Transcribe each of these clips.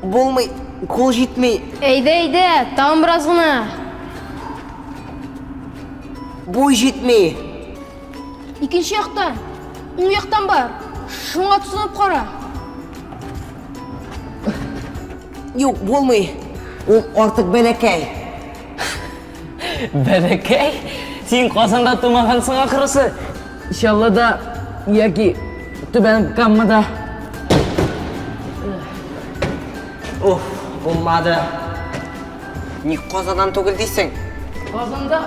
Булмый, кул җитмей. Әйдә, әйдә, тагын бераз гына. Буй җитмей. Икенче яктан, уң яктан бар. Шуңа тотынып кара. Юк, булмый. Ул артык бәләкәй. Бәләкәй, син Казанда тумагансың ахрысы. Чаллыда яки Түбән Каммада. Уф, булмады. Ник Казаннан түгел дисең? Казанда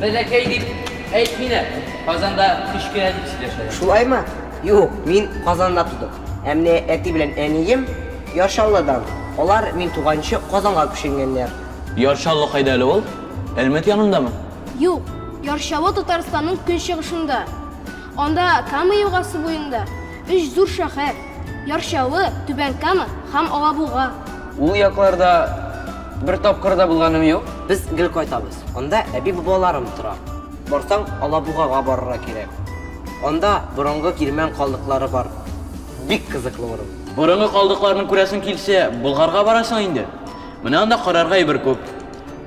бәләкәй дип әйтмиләр. Казанда кечкенә дип сөйләшәләр. Шулаймы? Юк, мин Казанда тудым. Ә менә әти белән әнием Ярчаллыдан, алар мин туганчы Казанга күченгәннәр. Ярчаллы кайда әле ул? Әлмәт янындамы? Юк, Ярчаллы Татарстанның көнчыгышында. Анда Кама елгасы буенда өч зур шәһәр, Ярчаллы, Түбән Кама һәм Алабуга. Ул якларда бер тапкыр да булганым юк. Без гел кайтабыз. Анда әби-бабаларым тора. Барсаң, Алабугага барырга кирәк. Анда борынгы кирмән калдыклары бар. Бик кызыклы урын. Борынгы калдыкларны күрәсең килсә, Болгарга барасың инде. Менә анда карарга әйбер күп.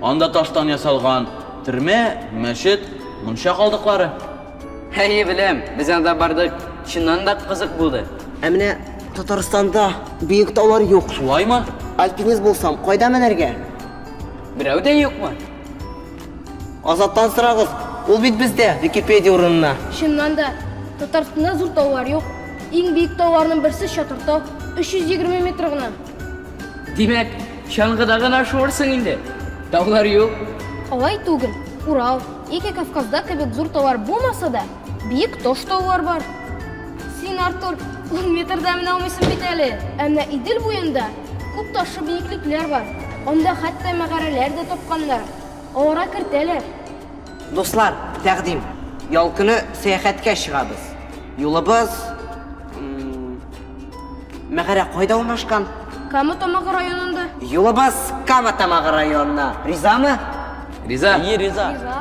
Анда таштан ясалган төрмә, мәчет, мунча калдыклары. Әйе, беләм. Без анда бардык. Чыннан да кызык булды. Ә менә Татарстанда биек таулар юк. Шулаймы? Альпинист булсам, кайда менәргә? Берәү дә юкмы? Азаттан сорагыз, ул бит бездә, Википедия урынына. Чыннан да, Татарстанда зур таулар юк. Иң биек тауларның берсе Чатыртау, 320 метр гына. Димәк, чаңгыда гына шуырсың инде? Таулар юк? Алай түгел. Урал, яки Кавказда кебек зур таулар булмаса да, Биек таш-таулар бар. Син, Артур, ун метрда менә алмыйсың бит әле. Ә менә Идел буенда күп ташлы биеклекләр бар. Анда хәтта мәгарәләр дә тапканнар. Аларга кертәләр. Дуслар, тәкъдим. Ял көне сәяхәткә чыгабыз. Юлыбыз... Мәгарә кайда урнашкан? Кама Тамагы районында. Юлыбыз Кама Тамагы районына. Ризамы? Риза. Әйе, риза. Риза.